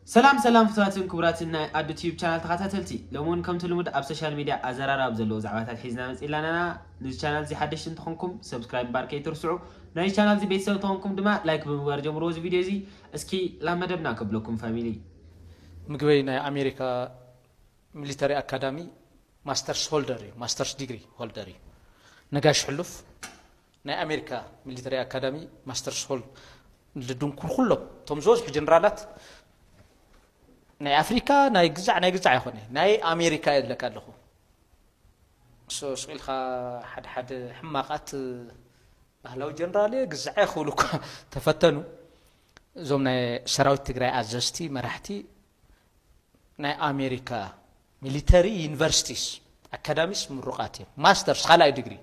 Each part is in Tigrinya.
ሰላም ሰላም ፍትዋትን ክቡራትን ናይ ኣዱ ቲዩብ ቻናል ተኻታተልቲ ሎሚ ውን ከምቲ ልሙድ ኣብ ሶሻል ሚድያ ኣዘራራቢ ዘለዎ ዛዕባታት ሒዝና መጺእና ኣለና ንዚ ቻናል እዚ ሓደሽቲ እንተኾንኩም ሰብስክራይብ ምባር ከይትርስዑ ናይዚ ቻናል እዚ ቤተሰብ እንተኾንኩም ድማ ላይክ ብምግባር ጀምርዎ እዚ ቪድዮ እዚ እስኪ ላብ መደብና ከብለኩም ፋሚሊ ምግበይ ናይ ኣሜሪካ ሚሊተሪ ኣካዳሚ ማስተርስ ሆልደር እዩ ማስተርስ ዲግሪ ሆልደር እዩ ነጋሽ ሕሉፍ ናይ ኣሜሪካ ሚሊተሪ ኣካዳሚ ማስተርስ ሆል ልድንኩር ኩሎም እቶም ዝበዝሑ ጀነራላት ናይ ኣፍሪካ ናይ ግዛዕ ናይ ግዛዕ ኣይኮነ ናይ ኣሜሪካ የለካ ኣለኹ ሶ ስቂልካ ሓደ ሓደ ሕማቃት ባህላዊ ጀነራል እየ ግዛዕ እየ ክብሉ እኳ ተፈተኑ እዞም ናይ ሰራዊት ትግራይ ኣዘዝቲ መራሕቲ ናይ ኣሜሪካ ሚሊተሪ ዩኒቨርሲቲስ ኣካዳሚስ ምሩቃት እዮም ማስተርስ ካልኣይ ድግሪ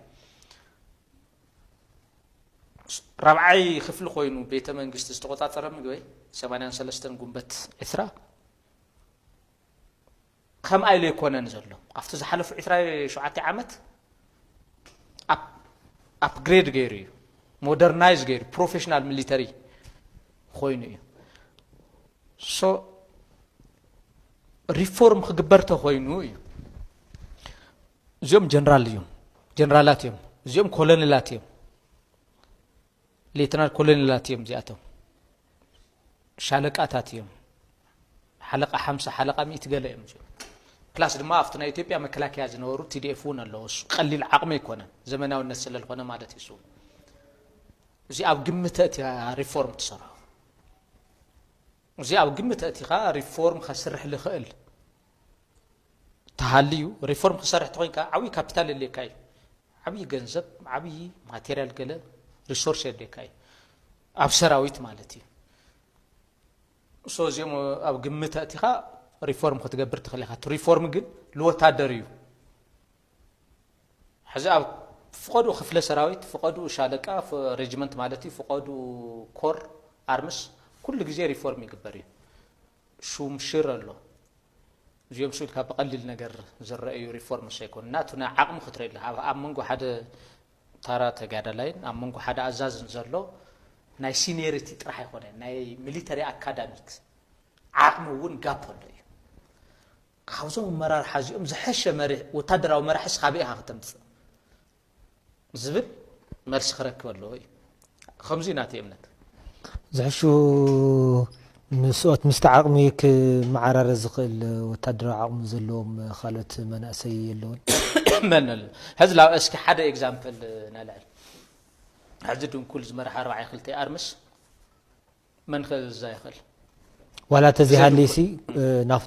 ራብዓይ ክፍሊ ኮይኑ ቤተ መንግስቲ ዝተቆፃፀረ ምግበ 83 ጉንበት ዕስራ ከምኣ ኢሉ ኣይኮነን ዘሎ ኣብቲ ዝሓለፉ 27 ዓመት ኣፕግሬድ ገይሩ እዩ ሞደርናይዝ ገይሩ ፕሮፌሽናል ሚሊተሪ ኮይኑ እዩ ሶ ሪፎርም ክግበር ተኮይኑ እዩ እዚኦም ጀነራል እዮም ጀነራላት እዮም እዚኦም ኮሎኔላት እዮም ሌተናል ኮሎኔላት እዮም እዚኣቶም ሻለቃታት እዮም ሓለቃ ሓምሳ ሓለቃ ሚእቲ ገለ እዮም እዚኦም ፕላስ ድማ ኣብቲ ናይ ኢትዮጵያ መከላከያ ዝነበሩ ቲዲኤፍ እውን ኣለዎ እሱ ቀሊል ዓቕሚ ኣይኮነን ዘመናዊነት ስለ ዝኾነ ማለት እዩ እሱ እዚ ኣብ ግምት እቲኻ ሪፎርም ትሰርሖ እዚ ኣብ ግምት እቲኻ ሪፎርም ከስርሕ ዝኽእል ተሃልዩ ሪፎርም ክሰርሕ ተኮይንካ ዓብዪ ካፒታል የድልየካ እዩ ዓብዪ ገንዘብ ዓብዪ ማቴሪያል ገለ ሪሶርስ የድልየካ እዩ ኣብ ሰራዊት ማለት እዩ so እዚኦም ኣብ ግምት ኣእቲኻ ሪፎርም ክትገብር ትኽእል ኢኻ እቲ ሪፎርም ግን ልወታደር እዩ ሕዚ ኣብ ፍቐዱ ክፍለ ሰራዊት ፍቐዱ ሻለቃ ሬጅመንት ማለት እዩ ፍቐዱ ኮር ኣርምስ ኩሉ ግዜ ሪፎርም ይግበር እዩ ሹም ሽር ኣሎ እዚኦም ስኢልካ ብቐሊል ነገር ዝረአዩ ሪፎርምስ ኣይኮኑ ናቱና ዓቕሚ ክትርኢ ኣለካ ኣብ መንጎ ሓደ ታራ ተጋዳላይን ኣብ መንጎ ሓደ ኣዛዝን ዘሎ ናይ ሲንየሪቲ ጥራሕ ኣይኮነን፣ ናይ ሚሊተሪ ኣካዳሚክ ዓቕሚ እውን ጋፕ ኣሎ እዩ። ካብዞም ኣመራርሓ እዚኦም ዝሐሸ ወታደራዊ መራሒስ ካበይ ኢኻ ክተምፅእ ዝብል መልሲ ክረክብ ኣለዎ እዩ። ኸምዙይ ናተይ እምነት። ዝሕሹ ንስኦት ምስቲ ዓቕሚ ክመዓራረ ዝኽእል ወታደራዊ ዓቕሚ ዘለዎም ካልኦት መናእሰይ የለውን? መን ኣሎ ሕዚ ላብ እስኪ ሓደ ኤግዛምፕል ነልዕል ሕዚ ድንኩል ዝመርሓ ኣርባዕየ ክልተይ ኣርምስ መን ከ እዛ ይኽእል ዋላ ተዘይሃልይሲ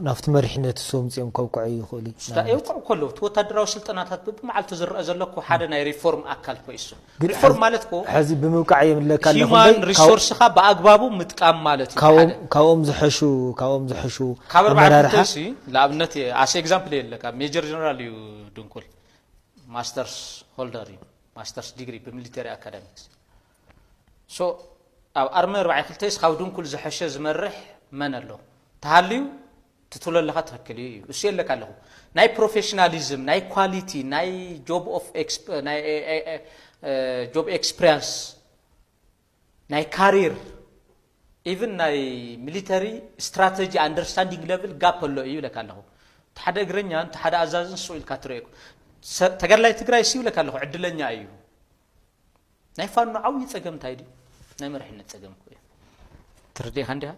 ናብቲ መሪሕነት እሱ ምፅኦም ከውቅዐ ይኽእሉ የውቅዑ እኮ ኣለዉ እቲ ወታደራዊ ስልጠናታት ብብመዓልቱ ዝረአ ዘሎ እኮ ሓደ ናይ ሪፎርም ኣካል እኮ እሱ ሪፎርም ማለት እኮ ሕዚ ብምውቃዕ የምለካ ሂማን ሪሶርስካ ብኣግባቡ ምጥቃም ማለት እዩ ካብኦም ዝሐሹ ካብኦም ዝሐሹ ካብ ኣርባዕተ ንኣብነት ኣሰ ኤግዛምፕል የለካ ሜጀር ጀነራል እዩ ድንኩል ማስተርስ ሆልደር እዩ ማስተርስ ዲግሪ ብሚሊተሪ ኣካዳሚክስ So ኣብ ኣርሚ ኣርባዕይ ክልተይስ ካብ ድንኩል ዝሐሸ ዝመርሕ መን ኣሎ ተሃልዩ እቲ ትብሎ ኣለካ ትክክል እዩ እዩ እሱ የለካ ኣለኩ ናይ ፕሮፌሽናሊዝም ናይ ኳሊቲ ናይ ጆብ ኦፍ ጆብ ኤክስፕሪያንስ ናይ ካሪር ኢቭን ናይ ሚሊተሪ ስትራተጂ ኣንደርስታንዲንግ ለብል ጋፕ ኣሎ እዩ ይብለካ ኣለኹ እቲ ሓደ እግረኛን እቲ ሓደ ኣዛዝን ስቕ ኢልካ ትርእየኩ ተጋድላይ ትግራይ ሲ ይብለካ ኣለኹ ዕድለኛ እዩ ናይ ፋኖ ዓብዪ ፀገም እንታይ ድዩ? ናይ መሪሕነት ፀገም እኮ እዩ። ትርድኤካ እንዲኻ?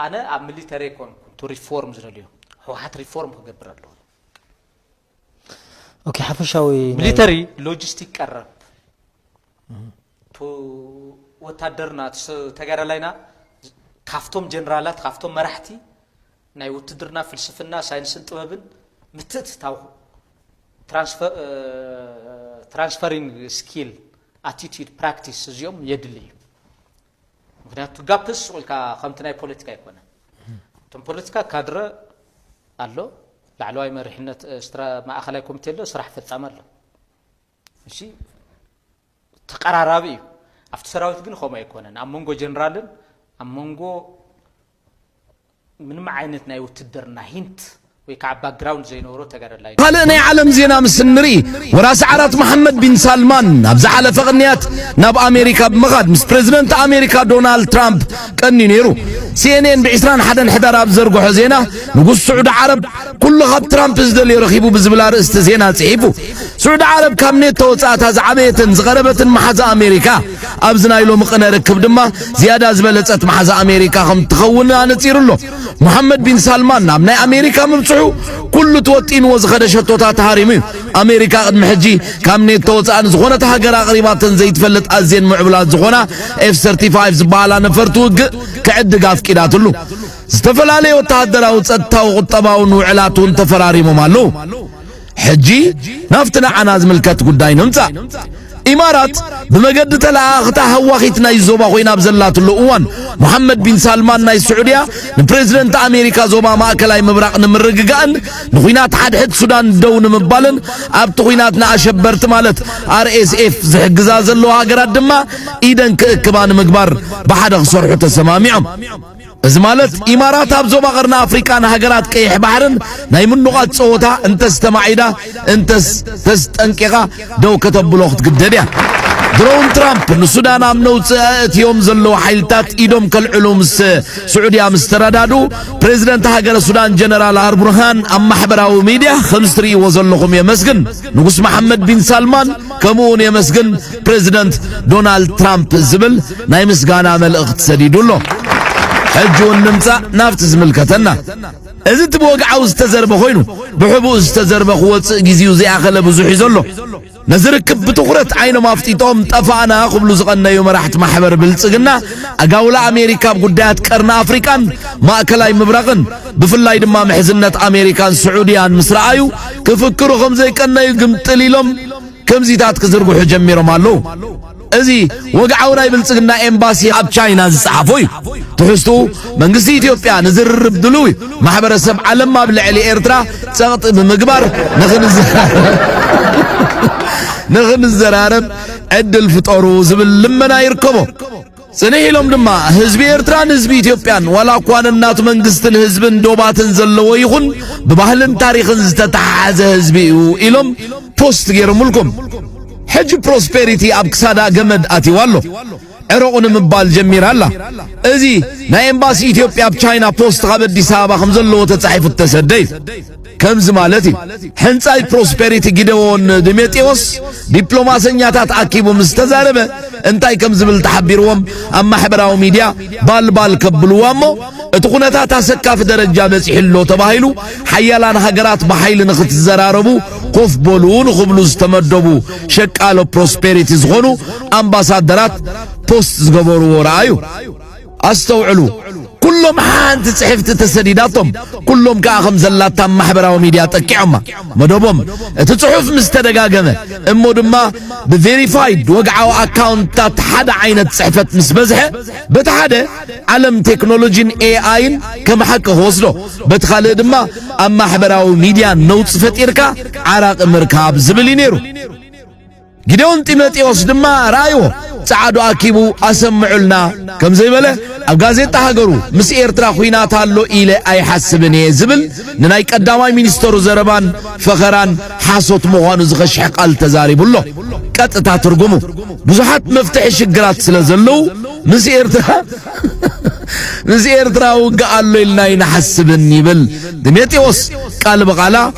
ኣነ ኣብ ሚሊተሪ ኣይኮንኩን ቱ ሪፎርም ዝደልዮ ህወሓት ሪፎርም ክገብር ኣለዎ ኦኬ ሓፈሻዊ ሚሊተሪ ሎጂስቲክ ቀረብ ቱ ወታደርና ተጋዳላይና ካብቶም ጀነራላት ካብቶም መራሕቲ ናይ ውትድርና ፍልስፍና፣ ሳይንስን ጥበብን ምትእትታው፣ ትራንስፈሪንግ ስኪል፣ ኣቲቲዩድ፣ ፕራክቲስ እዚኦም የድሊ እዩ። ምክንያቱ ጋፕስ ሱቕ ኢልካ ከምቲ ናይ ፖለቲካ ኣይኮነን። እቶም ፖለቲካ ካድረ ኣሎ፣ ላዕለዋይ መሪሕነት፣ ማእኸላይ ኮሚቴ ኣሎ፣ ስራሕ ፈፃሚ ኣሎ። እሺ ተቀራራቢ እዩ ኣብቲ ሰራዊት ግን ከምኡ ኣይኮነን ኣብ መንጎ ጀነራልን ኣብ መንጎ ምንም ዓይነት ናይ ውትድርና ሂንት ወይ ከዓ ባክግራውንድ ዘይነበሮ ተጋደላይ ካልእ ናይ ዓለም ዜና ምስ እንርኢ ወራሲ ዓራት መሓመድ ቢን ሳልማን ኣብ ዝሓለፈ ቅንያት ናብ ኣሜሪካ ብምኻድ ምስ ፕሬዚደንት ኣሜሪካ ዶናልድ ትራምፕ ቀንዩ ነይሩ። ሲኤንኤን ብ 21 ሕዳር ኣብ ዝዘርግሖ ዜና ንጉስ ስዑዲ ዓረብ ኩሉ ካብ ትራምፕ ዝደልዮ ረኺቡ ብዝብል ኣርእስቲ ዜና ጽሒፉ። ስዑዲ ዓረብ ካብ ኔቶ ወጻእታ ዝዓበየትን ዝቐረበትን መሓዛ ኣሜሪካ፣ ኣብዚ ናይ ሎሚ ቅነ ርክብ ድማ ዝያዳ ዝበለጸት መሓዛ ኣሜሪካ ከም ትኸውን ኣነጺሩ ኣሎ። መሓመድ ቢን ሳልማን ናብ ናይ ኣሜሪካ ምብጽሑ ኩሉ ተወጢንዎ ዝኸደ ሸቶታት ሃሪሙ እዩ። ኣሜሪካ ቅድሚ ሕጂ ካብ ኔቶ ወጻእ ንዝኾነት ሃገር ኣቕሪባተን ዘይትፈልጥ ኣዝየን ምዕቡላት ዝኾና ኤፍ 35 ዝበሃላ ነፈርቲ ውግእ ክዕድግ ኣፍቂዳትሉ። ዝተፈላለዩ ወተሃደራዊ ጸጥታዊ ቁጠባውን ውዕላት እውን ተፈራሪሞም ኣለዉ ሕጂ ናብቲ ንዓና ዝምልከት ጉዳይ ንምጻእ ኢማራት ብመገዲ ተለኣኽታ ሃዋኺት ናይ ዞባ ኮይና ኣብ ዘላትሉ እዋን መሓመድ ቢን ሳልማን ናይ ስዑድያ ንፕሬዚደንት ኣሜሪካ ዞባ ማእከላይ ምብራቕ ንምርግጋእን ንኹናት ሓድሕድ ሱዳን ደው ንምባልን ኣብቲ ኩናት ንኣሸበርቲ ማለት ኣርኤስኤፍ ዝሕግዛ ዘለዎ ሃገራት ድማ ኢደን ክእክባ ንምግባር ብሓደ ክሰርሑ ተሰማሚዖም እዚ ማለት ኢማራት ኣብ ዞባ ቀርኒ ኣፍሪቃ ንሃገራት ቀይሕ ባሕርን ናይ ምኑቛት ጸወታ እንተስ ተማዒዳ እንተስ ተስጠንቂቓ ደው ከተብሎ ክትግደድ እያ። ድሮውን ትራምፕ ንሱዳን ኣብ ነውጺ ኣእትዮም ዘለዉ ሓይልታት ኢዶም ከልዕሉ ምስ ስዑድያ ምስ ተረዳዱ ፕሬዚደንት ሃገረ ሱዳን ጀነራል ኣርቡርሃን ኣብ ማሕበራዊ ሚድያ ከም ዝትርእይዎ ዘለኹም የመስግን ንጉስ መሓመድ ቢን ሳልማን ከምኡ ውን የመስግን ፕረዚደንት ዶናልድ ትራምፕ ዝብል ናይ ምስጋና መልእኽቲ ሰዲዱ ኣሎ። ሕጂ ውን ንምጻእ ናብቲ ዝምልከተና እዚ እቲ ብወግዓዊ ዝተዘርበ ኮይኑ ብሕቡእ ዝተዘርበ ክወጽእ ግዜኡ ዘይኣኸለ ብዙሕ እዩ ዘሎ። ነዚ ርክብ ብትኹረት ዓይኖም ኣፍጢጦም ጠፋእና ክብሉ ዝቐነዩ መራሕቲ ማሕበር ብልጽግና ኣጋውላ ኣሜሪካ ኣብ ጉዳያት ቀርኒ ኣፍሪቃን ማእከላይ ምብራቕን ብፍላይ ድማ ምሕዝነት ኣሜሪካን ስዑድያን ምስ ረኣዩ ክፍክሩ ከም ዘይቀነዩ ግምጥል ኢሎም ከምዚታት ክዝርግሑ ጀሚሮም ኣለዉ። እዚ ወግዓዊ ናይ ብልጽግና ኤምባሲ ኣብ ቻይና ዝጸሓፎ እዩ። ትሕዝቱ መንግስቲ ኢትዮጵያ ንዝርርብ ድሉው ማሕበረሰብ ዓለም ኣብ ልዕሊ ኤርትራ ጸቕጢ ብምግባር ንኽንዘራረብ ዕድል ፍጠሩ ዝብል ልመና ይርከቦ። ጽንሕ ኢሎም ድማ ህዝቢ ኤርትራን ህዝቢ ኢትዮጵያን ዋላ እኳ ነናቱ መንግስትን ህዝብን ዶባትን ዘለዎ ይኹን ብባህልን ታሪኽን ዝተተሓሓዘ ህዝቢ እዩ ኢሎም ፖስት ገይሮምልኩም። ሕጂ ፕሮስፔሪቲ ኣብ ክሳዳ ገመድ ኣትይዋ ኣሎ ዕረቑ ንምባል ጀሚራ ኣላ። እዚ ናይ ኤምባሲ ኢትዮጵያ ኣብ ቻይና ፖስት ካብ ኣዲስ ኣበባ ከም ዘለዎ ተጻሒፉ እተሰደ እዩ። ከምዚ ማለት እዩ። ሕንጻይ ፕሮስፔሪቲ ጊደዎን ድሜጤዎስ ዲፕሎማሰኛታት ኣኪቡ ምስ ተዛረበ እንታይ ከም ዝብል ተሓቢርዎም ኣብ ማሕበራዊ ሚድያ ባልባል ከብልዋ እሞ እቲ ኩነታት ኣሰካፊ ደረጃ በጺሑ ኣሎ ተባሂሉ ሓያላን ሃገራት ብሓይሊ ንኽትዘራረቡ ኮፍ በሉ ንኽብሉ ዝተመደቡ ሸቃሎ ፕሮስፔሪቲ ዝኾኑ ኣምባሳደራት ፖስት ዝገበርዎ ረኣዩ። ኣስተውዕሉ ኩሎም ሓንቲ ጽሕፍቲ ተሰዲዳቶም ኩሎም ከኣ ከም ዘላታ ማሕበራዊ ሚድያ ጠቂዖማ መደቦም እቲ ጽሑፍ ምስ ተደጋገመ እሞ ድማ ብቬሪፋይድ ወግዓዊ ኣካውንትታት ሓደ ዓይነት ጽሕፈት ምስ በዝሐ በቲ ሓደ ዓለም ቴክኖሎጂን ኤኣይን ከም ሓቂ ክወስዶ በቲ ካልእ ድማ ኣብ ማሕበራዊ ሚድያ ነውፂ ፈጢርካ ዓራቂ ምርካብ ዝብል እዩ ነይሩ ጊዴዎን ጢሞቴዎስ ድማ ረኣይዎ ጸዓዱ ኣኪቡ ኣሰምዑልና ከም ዘይበለ ኣብ ጋዜጣ ሃገሩ ምስ ኤርትራ ኹናት ኣሎ ኢለ ኣይሓስብን እየ ዝብል ንናይ ቀዳማይ ሚኒስተሩ ዘረባን ፈኸራን ሓሶት ምዃኑ ዝኸሽሐ ቃል ተዛሪቡ ኣሎ። ቀጥታ ትርጉሙ ብዙሓት መፍትሒ ሽግራት ስለ ዘለዉ ምስ ኤርትራ ምስ ኤርትራ ውግእ ኣሎ ኢልና ኣይንሓስብን ይብል ጢሞቴዎስ ቃል ብቓላ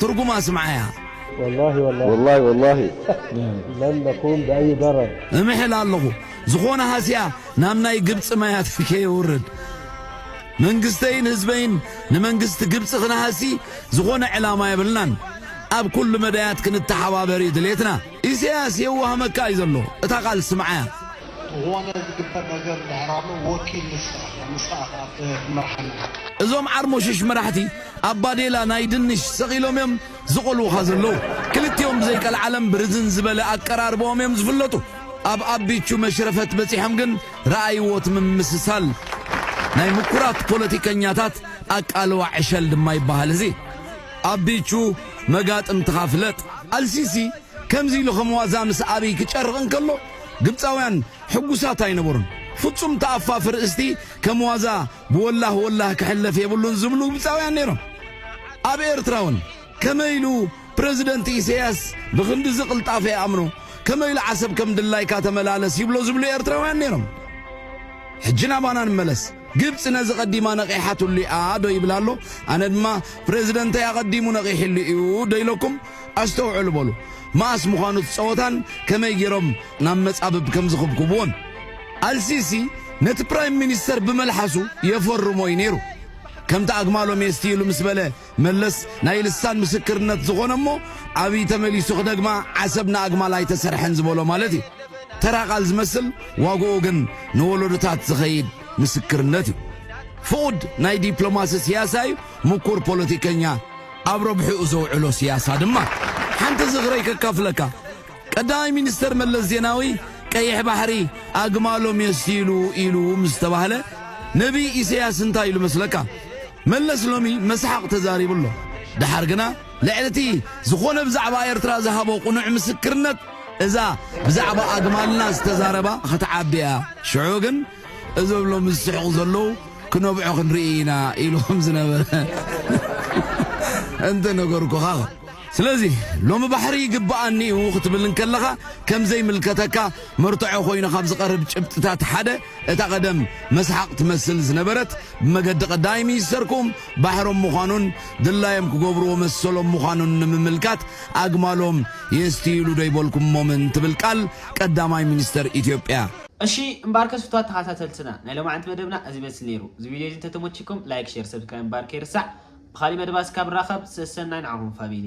ትርጉማ ኣስምዓያ። ወላሂ ወላሂ ወላሂ ወላሂ ለን ነኩም ብኣይ ደረር። እምሕል ኣለኹ ዝኾነ ሃስያ ናብ ናይ ግብጺ ማያት ከየውርድ። መንግስተይን ህዝበይን ንመንግስቲ ግብጺ ክንሃሲ ዝኾነ ዕላማ የብልናን። ኣብ ኩሉ መዳያት ክንተሓባበር እዩ ድሌትና። ኢሰያስ የዋህ መካእ እዩ ዘሎ እታ ቃል ስምዓያ። ዝኾነ ዝግበር ነገር እንድሕር ኣሎ ወኪል ንስኻ ኢኻ ንስኻ ኢኻ ትመርሓና። እዞም ዓርሞሽሽ መራሕቲ ኣብ ባዴላ ናይ ድንሽ ሰቒሎም እዮም ዝቖልዉኻ ዘለዉ። ክልቲኦም ብዘይ ቀልዓለም ብርዝን ዝበለ ኣቀራርብኦም እዮም ዝፍለጡ። ኣብ ኣቢቹ መሽረፈት በጺሖም ግን ረኣይዎ እቲ ምምስሳል ናይ ምኩራት ፖለቲከኛታት ኣቃልዋ ዕሸል ድማ ይበሃል እዚ። ኣቢቹ መጋጥምትኻ ፍለጥ። ኣልሲሲ ከምዚ ኢሉ ከም ዋዛ ምስ ኣብይ ክጨርቕ እንከሎ ግብጻውያን ሕጉሳት ኣይነበሩን። ፍጹም ተኣፋፊ ርእስቲ ከም ዋዛ ብወላህ ወላህ ክሕለፍ የብሉን ዝብሉ ግብጻውያን ነይሮም። ኣብ ኤርትራውን ከመይ ኢሉ ፕረዚደንት ኢሰያስ ብኽንድዚ ቅልጣፈ ይኣምኖ፣ ከመይ ኢሉ ዓሰብ ከም ድላይካ ተመላለስ ይብሎ ዝብሉ ኤርትራውያን ነይሮም። ሕጂ ናባና ንመለስ። ግብጺ ነዚ ቀዲማ ነቒሓትሉ እያ ዶ ይብል ኣሎ? ኣነ ድማ ፕረዚደንተይ ኣቐዲሙ ነቒሕሉ እዩ ዶ ኢለኩም? ኣስተውዕሉ በሉ። መኣስ ምዃኑ እቲ ጸወታን ከመይ ጌሮም ናብ መጻብብ ከም ዝኽብኩብዎን። ኣልሲሲ ነቲ ፕራይም ሚኒስተር ብመልሓሱ የፈርሞ እዩ ነይሩ። ከምቲ ኣግማሎ ሜስቲ ኢሉ ምስ በለ መለስ ናይ ልሳን ምስክርነት ዝኾነ እሞ ኣብይ ተመሊሱ ክደግማ ዓሰብ ንኣግማል ኣይተሰርሐን ዝበሎ ማለት እዩ። ተራ ቃል ዝመስል ዋግኡ ግን ንወለዶታት ዝኸይድ ምስክርነት እዩ። ፍቑድ ናይ ዲፕሎማሲ ስያሳ እዩ፣ ምኩር ፖለቲከኛ፣ ኣብ ረብሕኡ ዘውዕሎ ስያሳ ድማ ሓንቲ ዝኽረይ ከካፍለካ። ቀዳማይ ሚኒስተር መለስ ዜናዊ ቀይሕ ባሕሪ ኣግማሎም የስትይሉ ኢሉ ምስ ተባህለ ነብይ ኢሰያስ እንታይ ኢሉ መስለካ? መለስ ሎሚ መስሓቕ ተዛሪቡ ኣሎ። ደሓር ግና ልዕሊ እቲ ዝኾነ ብዛዕባ ኤርትራ ዝሃቦ ቅኑዕ ምስክርነት እዛ ብዛዕባ ኣግማልና ዝተዛረባ ኽትዓቢ እያ። ሽዑ ግን እዞም ሎሚ ዝስሕቑ ዘለዉ ክነብዑ ክንርኢ ኢና ኢሉ ከም ዝነበረ እንተ ነገርኩኻ ስለዚ ሎሚ ባሕሪ ይግብኣኒ እዩ ክትብል እንከለኻ ከም ዘይምልከተካ መርትዖ ኮይኑ ካብ ዝቐርብ ጭብጥታት ሓደ እታ ቀደም መስሓቕ ትመስል ዝነበረት ብመገዲ ቀዳይ ሚኒስተርኩም ባሕሮም ምዃኑን ድላዮም ክገብርዎ መሰሎም ምዃኑን ንምምልካት ኣግማሎም የስትይሉ ዶ ይበልኩሞምን ትብል ቃል ቀዳማይ ሚኒስተር ኢትዮጵያ እሺ እምበኣርከስ ፍትዋት ተኻታተልትና ናይ ሎማዕንቲ መደብና እዚ ይመስል ነይሩ እዚ ቪድዮ እዚ እንተተሞቺኩም ላይክ ሼር ሰብስክራይብ ምባር ከይርሳዕ ብኻሊእ መደባት እስካብ ንራኸብ ሰሰናይ ንዓኹም ፋሚሊ።